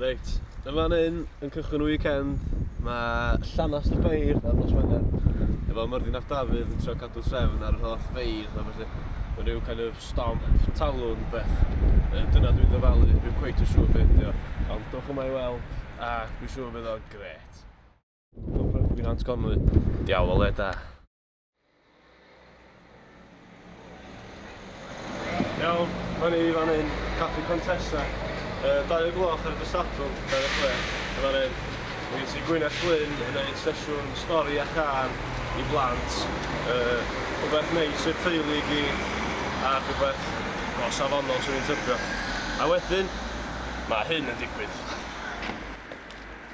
Reit, yn fan hyn, yn cychwyn y weekend, mae Llanas y Beir ar nos Wener, efo Myrddin ap Dafydd yn trio cadw trefn ar yr holl feir, a felly mae rhyw kind of stomp, talwr, beth. E, dyna dwi'n ddyfalu, dwi'n cweit yn siŵr beth ydi o, ond dwch yma i weld, a dwi'n siŵr bydd o'n gret. Fi'n Nant Conwy. Diawl o le da. Iawn, o'n i fan hyn, Caffi Contessa. Uh, dau o gloch ar y Dysadl, 26, yn fan hyn. Mae gen ti Gwyneth Glyn yn ei sesiwn stori a car i blant. Uh, rhywbeth neis i'r teulu i gyd, a rhywbeth o safonol sy'n ei tybio. A wedyn, mae hyn yn digwydd.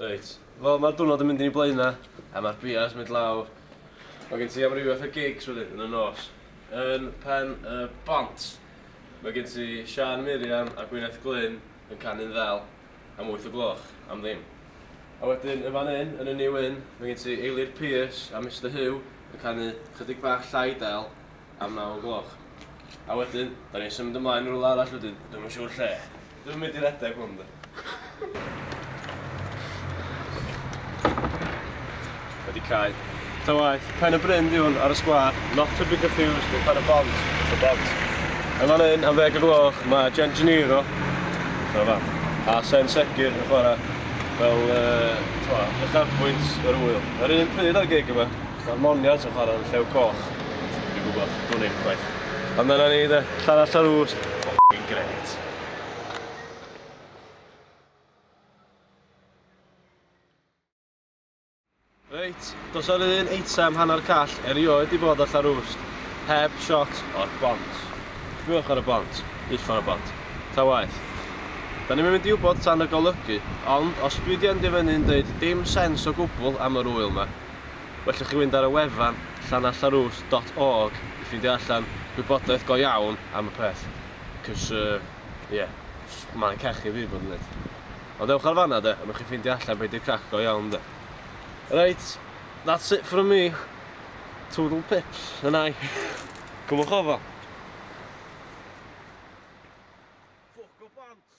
Reit, wel ma'r diwrnod yn mynd yn ei blaena a ma'r bia's mynd lawr. Ma' gen ti amryw fath o gigs wedyn yn y nos. Yn Pen y Bont ma' gen ti Siân Miriam a Gwyneth Glyn yn canu'n ddel am wyth o gloch am ddim. A wedyn yn fan 'yn yn y New Inn ma' gen ti Eilir Pearce a Mister Huw yn canu chydig bach llai del. am naw o'r gloch. A wedyn, 'dan ni'n symud ymlaen i rywle arall wedyn, dwi'm yn siŵr lle. Dwi'm yn mynd i redeg hwn 'de. Wedi cau. Ta waeth, Pen y Bryn 'di hwn ar y sgwâr, not to be confused with Pen y Bont, The Bont. Yn fan hyn, am ddeg o'r gloch, mae Jen Geniro, dyna fam, a Sen Segur yn chwarae fel yy, t'mo', uchafbwynt yr ŵyl. Yr un pryd â'r gig yma. Mae'r monions yn chwarae yn Llew Coch. Dwi'n gwybod, dwn i ddim chwaith. Ond dyna ni de, Llanall ar Ouse, ffocin grêt. Reit, dos ar un eitem hanner call erioed di bod ar Llanrwst, heb shot o'r bont. Sbiwch ar y bont, uffar o bont. Ta waeth. Da ni'm yn mynd i wybod tan y golygu, ond os dwi di endio fyny'n deud dim sens o gwbl am yr ŵyl ma, Wellwch chi fynd ar y wefan llanalltharws dot org i ffeindio allan gwybodaeth go iawn am y peth, cys yy ie, jyst maen cachu fi bod yn neud. Ond ewch ar fanna de, a newch chi ffeindio allan be di'r crac go iawn de. Reit, that's it from me. Toodle pips, yn ai? Cymwch ofal. Ffwc o bont!